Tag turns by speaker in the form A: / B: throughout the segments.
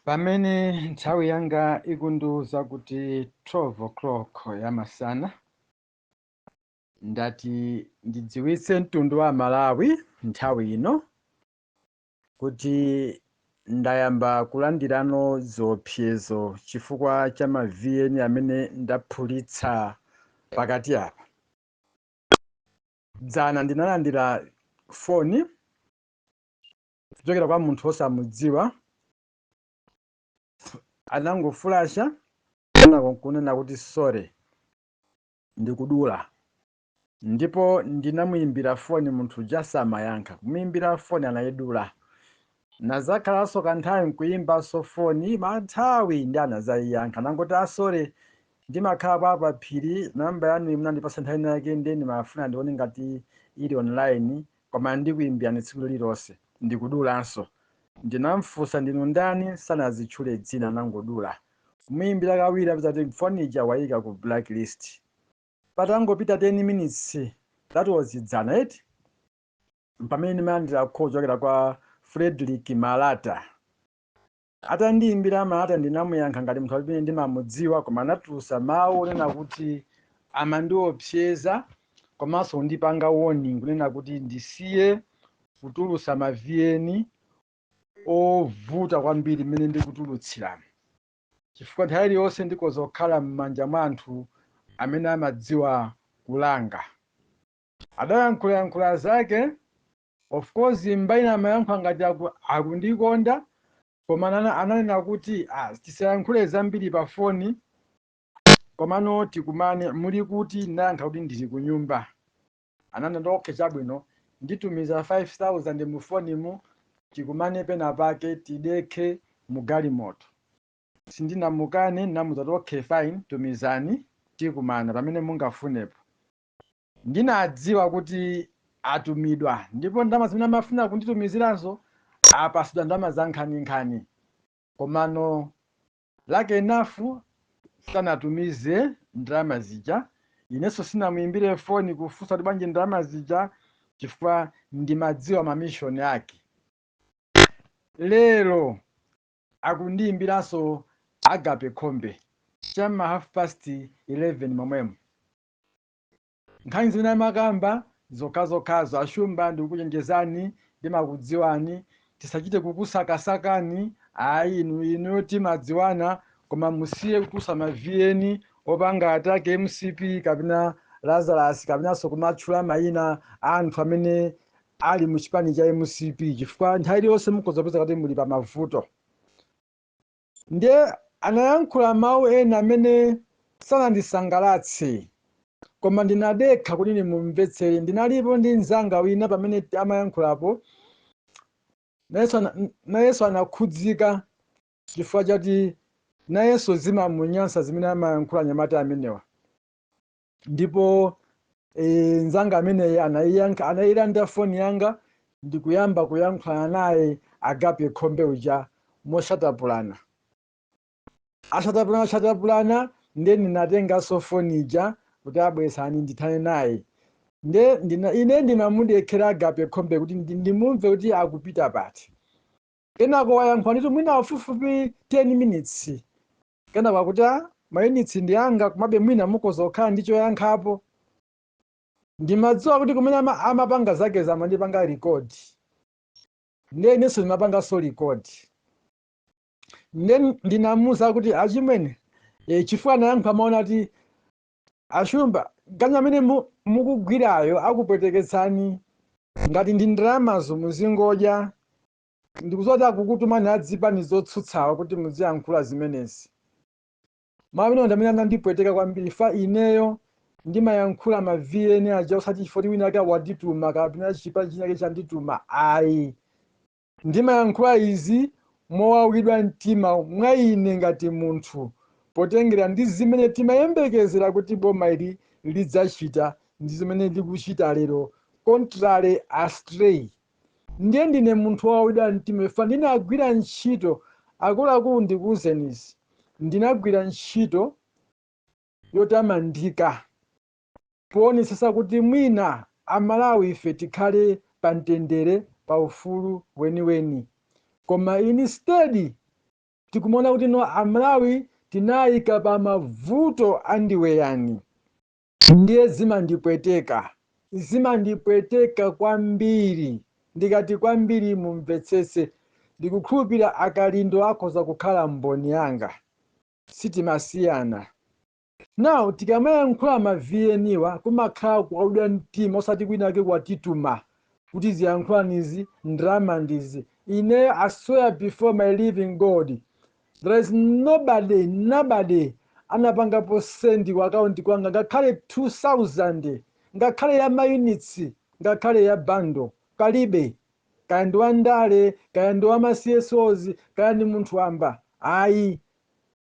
A: Pamene nthawi yanga ikundiwuza kuti 12 o'clock ya masana, ndati ndidziwitse mtundu wa Malawi nthawi ino kuti ndayamba kulandirano ziopsezo chifukwa cha ma VN amene ndaphulitsa pakati apa. Dzana ndinalandira foni kuchokera kwa munthu wosamudziwa anangofulasha kenako nkunena kuti sorry ndikudula ndipo ndinamuyimbira foni munthu uja samayankha kumuyimbira foni anayidula Nazakhalanso kanthawi nkuyimbanso foni nthawi imeneyi ndi anazayiyankha nangoti a sorry ndimakhala apa paphiri number yanuyi munandipatsa nthawi ina yake ndiye ndimafuna ndione ngati ili online koma ndikuyimbirani tsiku lililonse ndikudulanso ndinamfunsa ndinu ndani sanazitchule dzina anangodula kumuyimbira kawiri ndapeza kuti foni ija wayika ku black list patangopita 10 minutes that was dzana eti M'pamene ndimalandira call kuchokera kwa Fredrick Malata. Atandiimbira Malata ndinamuyankha ngati munthu amene ndimamudziwa koma anatulutsa mawu onena kuti amandiopseza komanso kundipanga warning kunena kuti ndisiye kutulutsa ma VN ovuta kwambiri mmene ndikutulutsiramu chifukwa nthawi iliyonse ndikhoza kukhala m'manja mwa anthu amene amadziwa kulanga. Adayankhula yankhula zake of course mbali ina amayankhula ngati aku, akundikonda koma anana, ananena kuti ah, tisayankhule zambiri pa foni komano tikumane muli kuti ndinayankha kuti ndili kunyumba ananena kuti okay chabwino nditumiza 5000 mu fonimu tikumane pena pake tidekhe mu galimoto sindinamukane ndinamuza kuti okay fine tumizani tikumana pamene mungafunepo Ndinadziwa kuti atumidwa ndipo ndalama zimene amafuna kunditumiziranso apatsidwa ndalama zankhaninkhani. Komano lucky enough sanatumize ndalama zija. Inenso sindinamuimbire foni kufunsa kuti bwanji ndalama zija chifukwa ndimadziwa ma mission ake. Lero akundiimbiranso Agape Khombe cha m'ma half past 11 momwemu. Nkhani zimene amakamba zokhazokhazo. A Shumba ndikukuchenjezani, ndimakudziwani, tisachite kukusakasakani ayi, inu inuyo timadziwana koma musiye kutulutsa ma VN opanga attack mcp kapena Lazarus kapenanso kumatchula maina a anthu amene ali mu chipani cha mcp chifukwa nthawi iliyonse mukhoza kupeza kuti muli pa mavuto. Ndiye anayankhula mawu ena amene sanandisangalatse. Koma ndinadekha kuti ndimumvetsere. Ndinalipo ndi mnzanga wina pamene amayankhulapo. Nayenso anakhudzika chifukwa choti nayenso zimamunyansa zimene amayankhula anyamata amenewa. ndipo mnzanga ameneyi anayilanda foni yanga ndikuyamba kuyankhulana naye agape khombe uja mosatapulana asatapulana asatapulana nde ndinatenganso foni ija kuti a bweretsani ndithane naye nde ine ndinamudekhera agape khombe kuti ndi- ndimumve kuti akupita pati kenako wayankhula ndithu mwina pafupifupi 10 minutes Kenako akuti a mayunitsi ndi anga komabe mwina mukhoza kukhala ndi choyankhapo. Ndimadziwa kuti kumene amapanga zakezi amandipanga record. Ndiye inenso ndimapanganso record. Ndiye ndinamuwuza kuti achimwene e, chifukwa anayankha mawu onena kuti ashumba ganyu amene mukugwirayo akupweteketsani ngati ndi ndalamazo muzingodya Ndikudziwa kuti akukutumani adzipani zotsutsawa kuti mudziyankhula zimenezi. Mau amenewa ndi amene anandipweteka kwambiri chifukwa ineyo ndimayankhula ma VN aja osati chifukwa choti winawake wandituma kapena chipani chinachake chandituma ayi. Ndimayankhula izi mowawidwa mtima mwa ine ngati munthu potengera ndi zimene timayembekezera kuti boma ili lidzachita ndi zimene likuchita lero contrary astray. Ndiye ndine munthu wowawidwa mtima chifukwa ndinagwira ntchito, akuluakulu ndikuuzeni izi, ndinagwira ntchito yotamandika poonetsetsa kuti mwina a Malawi ife tikhale pa mtendere, pa ufulu weniweni. Koma instead tikumaona kuti no a Malawi tinawaika pa mavuto andiweyani. Ndiye zimandipweteka, zimandipweteka kwambiri. Ndikati kwambiri mumvetsetse. Ndikukhulupirira a Kalindo akhoza kukhala mboni yanga. Sitimasiyana. Now tikamayankhula ma VN wa kumakhala kuwawidwa mtima osati winawake watituma kuti ziyankhulani izi, ndalama ndi izi. Ineyo I swear before my living God There is nobody nobody anapangapo send ku account kwanga ngakhale 2000 ngakhale ya mayunitsi ngakhale ya bundle palibe kaya ndi wandale kaya ndi wa ma CSOs kaya ndi munthu wamba ayi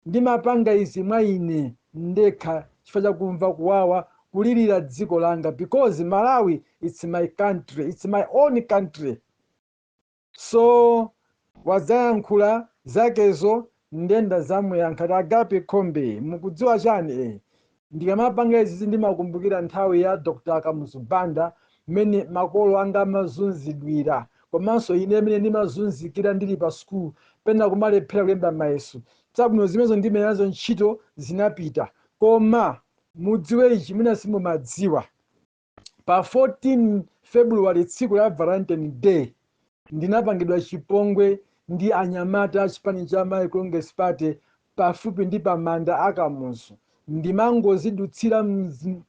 A: ndimapanga izi mwa ine ndekha chifukwa chakumva kuwawa kulilira dziko langa because malawi its my country its my own country So wadzayankhula zakezo nde ndadzamuyankha ati Agape Khombe mukudziwa chani eh ndikamapanga izizi ndimakumbukira nthawi ya Dr Kamuzu Banda mmene makolo anga amazunzidwira komanso ine mmene ndimazunzikira ndili pa school pena kumalephera kulemba mayeso chabwino zimenezo ndilibe nazo ntchito zinapita koma mudziwe ichi mwina simumadziwa pa 14 february tsiku la valentine day ndinapangidwa chipongwe ndi anyamata a chipani cha malawi congress party pafupi ndi pamanda a kamuzu ndimangozidutsira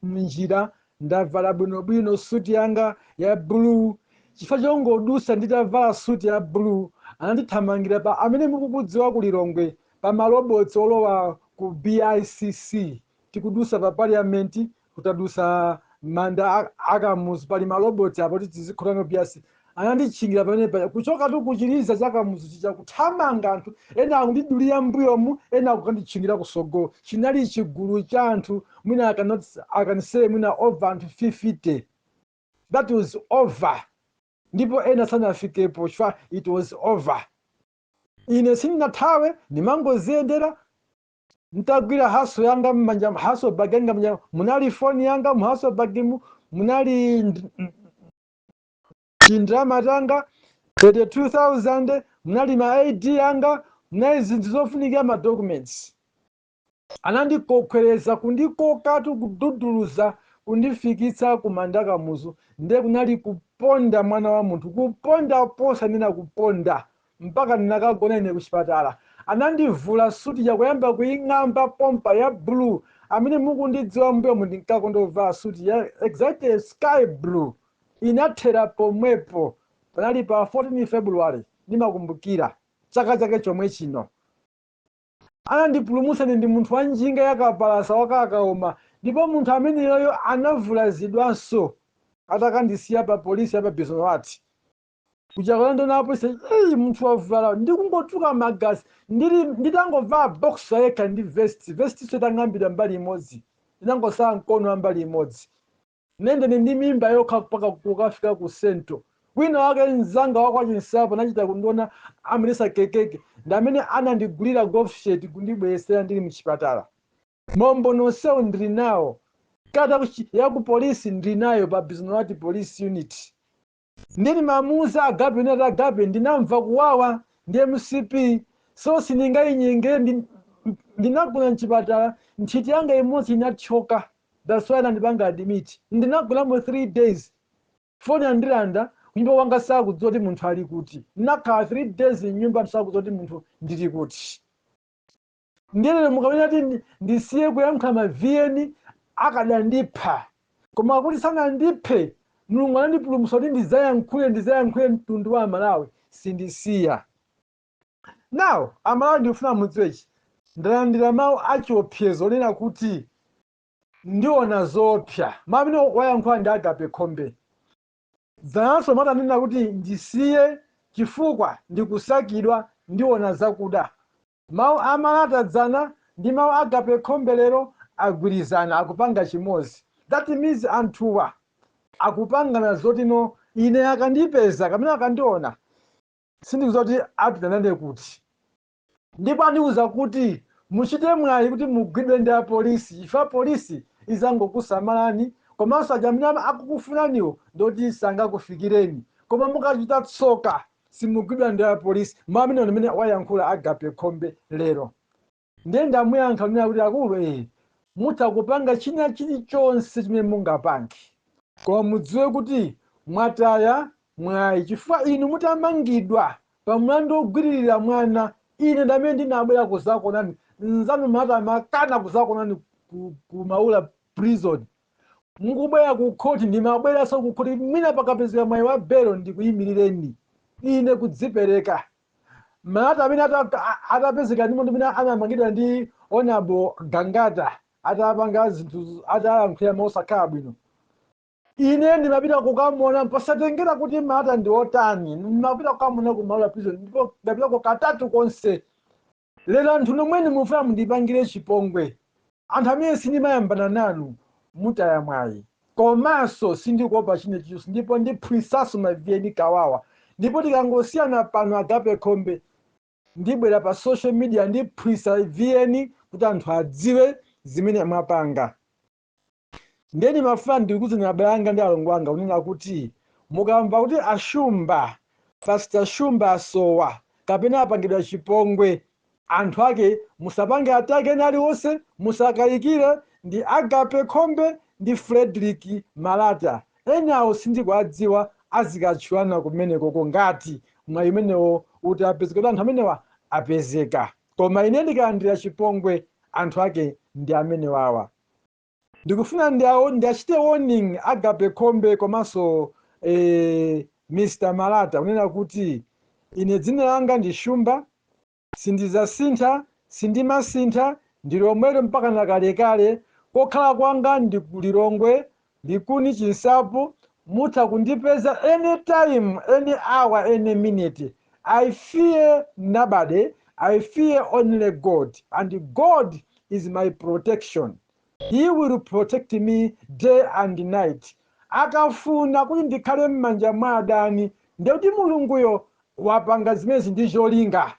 A: mnjira ndavala bwinobwino suti yanga ya blue chifukwa chongodusa nditavala suti ya blue anandithamangira paja amene mukukudziwa ku lilongwe pa malobotsi olowa ku bicc tikudusa pa parliament kutadutsa manda akamuzu pali maloboti apo kuti tizikhota ku BICC ananditchingira pamene paja kuchokatu kuchiliza cha kamuzu chija kuthamanga anthu ena akundidulira mbuyomu ena akukanditchingira kusogolo chinali chigulu cha anthu mwina akanise mwina over anthu 50 that was over ndipo ena asanafikepo chifukwa it was over ine sindinathawe ndimangoziyendera N'tagwila haso yanga m'manja, haso bag yanga m'manja, munali foni yanga mu haso bag'mu, munali tindrama tanga 32,000, munali ma ID anga, munali zinthu zofunikira ma documents. Anandikokhweleza, kundikokatu, kududuluza kundifikitsa kumanda a Kamuzu ndiye kunali kuponda mwana wa munthu, kuponda posanena kuponda. mpaka ndinakagona ine kuchipatala anandivula suit ija kuyamba kuing'amba pompa ya blue amene mukundidziwa mbuyomu ndinkakonda kuvala suit ya exactly sky blue inathera pomwepo panali pa 14 February ndimakumbukira chaka chake chomwe chino anandipulumutsa ine ndi munthu wa njinga ya kapalasa wa kabaza ndipo munthu ameneyoyo anavulazidwanso atakandisiya pa polisi ya pa Bisnowaty kujaku andiona apolisi eyi munthu wavulala ndikungotuluka magazi ndili nditangova boxer yekha ndi vest vest so itang'ambidwa mbali imodzi inangotsala mkono wa mbali imodzi nde ndine ndi mimba yokha mpaka kukafika ku Central wina wake mzanga wa kwa Chinsapo anachita kundiona amayendetsa kekeke ndi amene anandigulira golf shirt kundibweretsera ndili mchipatala umboni nonsewo ndili nawo kalata kuchi- ya ku polisi ndili nayo pa Biz'nowati police unit Ndiye ndimamuuza Agape ndati Agape ndinamva kuwawa ndi mcp so sindingayinyengere ndi- ndinagona mchipatala nthiti yanga imodzi inathyoka that's why anandipanga admit ndinagonamo 3 days foni anandilanda kunyumba kwanga sakudziwa kuti munthu ali kuti ndinakhala 3 days mnyumba anthu sakudziwa kuti munthu ndili kuti Ndiye lero mukamanena kuti ndi- ndisiye kuyankhula ma VN akadandipha. Koma kuti sanandiphe, Mulungu anandipulumutsa kuti ndidzayankhule, ndidzayankhule mtundu wa Amalawi. Sindisiya. Now, Amalawi ndikufuna mudziwe ichi. Ndalandira mawu a chiopsezo onena kuti ndiona zoopsa. Mawu amene wayankhula ndi Agape Khombe. Dzananso Malata ananena kuti ndisiye chifukwa ndikusakidwa, ndiona zakuda. Mau a Malata dzana ndi mau a Agape Khombe lero agwirizana akupanga chimodzi that means anthuwa akupangana zoti no ine akandipeza kapena akandiona sindikudziwa kuti apita nane kuti ndipo andiuza kuti muchite mwayi kuti mugwidwe ndi a Police chifukwa Police izangokusamalani komanso aja amene akukufunaniwo ndioti sangakufikireni koma mukachita tsoka simugwidwa ndi a police mau amenewa ndi amene wayankhula agape khombe lero ndiye ndamuyankha kunena kuti akulu ee eh, mutha kupanga china chilichonse chimene mungapange koma mudziwe kuti mwataya mwayi chifukwa inu mutamangidwa pa mlandu wogwiririra mwana ine ndamene ndinabwera kuzakonani nzanu Malata amakana kuzakonani ku, ku maula prison mukubwera ku khoti, ndimabweranso ku khoti, mwina pakapezeka mwayi wa belo ndikuyimirireni ine kudzipereka. Malata amene ata- a- atapezeka ndi momwe mmene anamangidwa ndi Honourable Gangata atapanga zinthu z- atayankhulira mosakhala bwino ine ndimapita kukamona posatengera kuti malata ndi otani ndimapita kukamona ku Maula prison ndipo ndapitako katatu konse Lero anthu nomwenu mufuna mundipangire chipongwe anthu amene sindimayambana nanu mutaya mwayi komanso sindikuopa china chilichonse ndipo ndiphwisanso ma vn kawawa ndipo tikangosiyana pano agape khombe ndibwera pa social media ndiphwisa vn kuti anthu adziwe zimene mwapanga. Ndiye ndimafuna ndikuuzeni abale anga ndi alongo anga kunena kuti mukamva kuti a Shumba, Pastor Shumba asowa kapena apangidwa chipongwe, anthu ake musapange atake ena aliwonse, musakayikire ndi Agape Khombe ndi Fredrick Malata. Enawo sindikuwadziwa azikatchulana kumenekoko ngati mwayi umenewo utapezeka kuti anthu amenewa apezeka. Koma ine ndikalandira chipongwe anthu ake ndi amenewawa. Ndikufuna ndiwachite warning Agape Khombe komanso eh, Mr Malata kunena kuti ine dzina langa ndi Shumba sindizasintha sindimasintha ndilomwelo mpaka nakalekale kokhala kwanga ndi ku Lilongwe Likuni Chinsapo mutha kundipeza any time any hour any minute I fear nobody I fear only God and God is my protection he will protect me day and night akafuna kuti ndikhale mmanja mwa adani ndekuti mulunguyo wapanga zimenezi ndi cholinga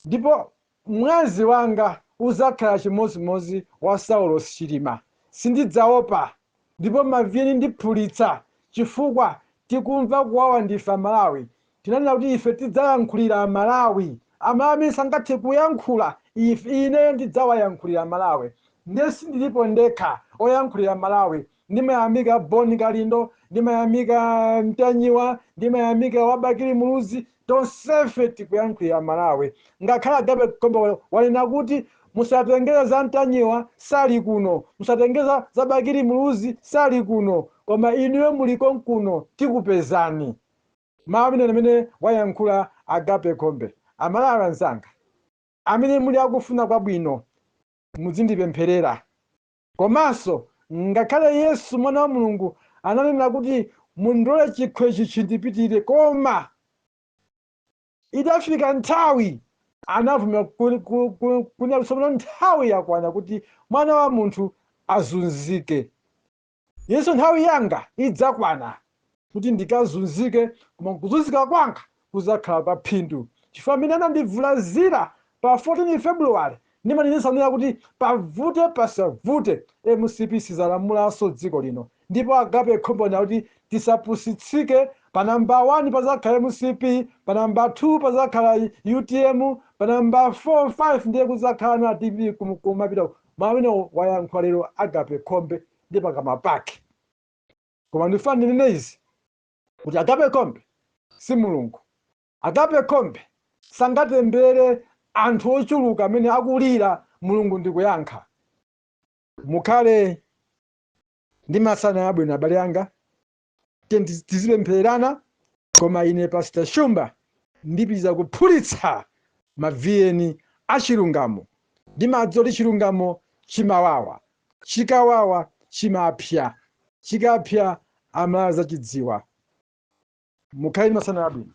A: Ndipo mwazi wanga uzakhala chimozimozi wa Saulos Chilima. Sindidzaopa ndipo ma VN ndiphulitsa chifukwa tikumva kuwawa ndife a Malawi. Tinanena kuti ife tidzayankhulira a Malawi. A Malawi amene sangathe kuyankhula ife, ine ndidzawayankhulira a Malawi. Ndiye sindilipo ndekha oyankhulira Malawi. Ndimayamika Bon Kalindo, ndimayamika Ntanyiwa, ndimayamika wa Bakili Muluzi, tonsefe tikuyankhulira Amalawi. Ngakhale Agape Khombe wanena kuti musatengere za Ntanyiwa sali kuno, musatengere za, za Bakili Muluzi sali kuno, koma inuyo muli konkuno tikupezani. Mawu amene amene wayankhula Agape Khombe. Amalawi anzanga, amene muli akufuna kwabwino mudzindipempherera Komanso, ngakhale Yesu, Mwana wa Mulungu, ananena kuti, Mundilole kuti chikho ichi chindipitire, koma itafika nthawi anavomera kunena kuti tsopano nthawi yakwana kuti Mwana wa munthu azunzike. Inenso, nthawi yanga idzakwana. kuti ndikazunzike, koma kuzunzika kwanga kudzakhala kwa phindu, chifukwa mmene anandivulazira pa 14 February ndimanenetsa kunena kuti pavute pasavute mcp sizalamulanso dziko lino ndipo Agape Khombe anena kuti tisapusitsike pa number 1 padzakhala mcp, pa number 2 padzakhala utm, pa number 4, 5 ndiye kudzakhala ana dpp kumapita uko. Mawu amenewo wayankhula lero Agape Khombe ndi pakamwa pake. Koma ndifuna ndinene izi kuti Agape Khombe si Mulungu. Agape Khombe sangatembere anthu ochuluka amene akulira Mulungu ndikuyankha. Mukhale ndi masana abwino abale anga. Tizipemphererana koma ine Pastor Shumba ndipitiriza kuphulitsa maviyeni achilungamo. Ndimadziwa kuti chilungamo chimawawa. Chikawawa chimaphya, chikaphya Amalawi azachidziwa. Mukhale ndi masana abwino.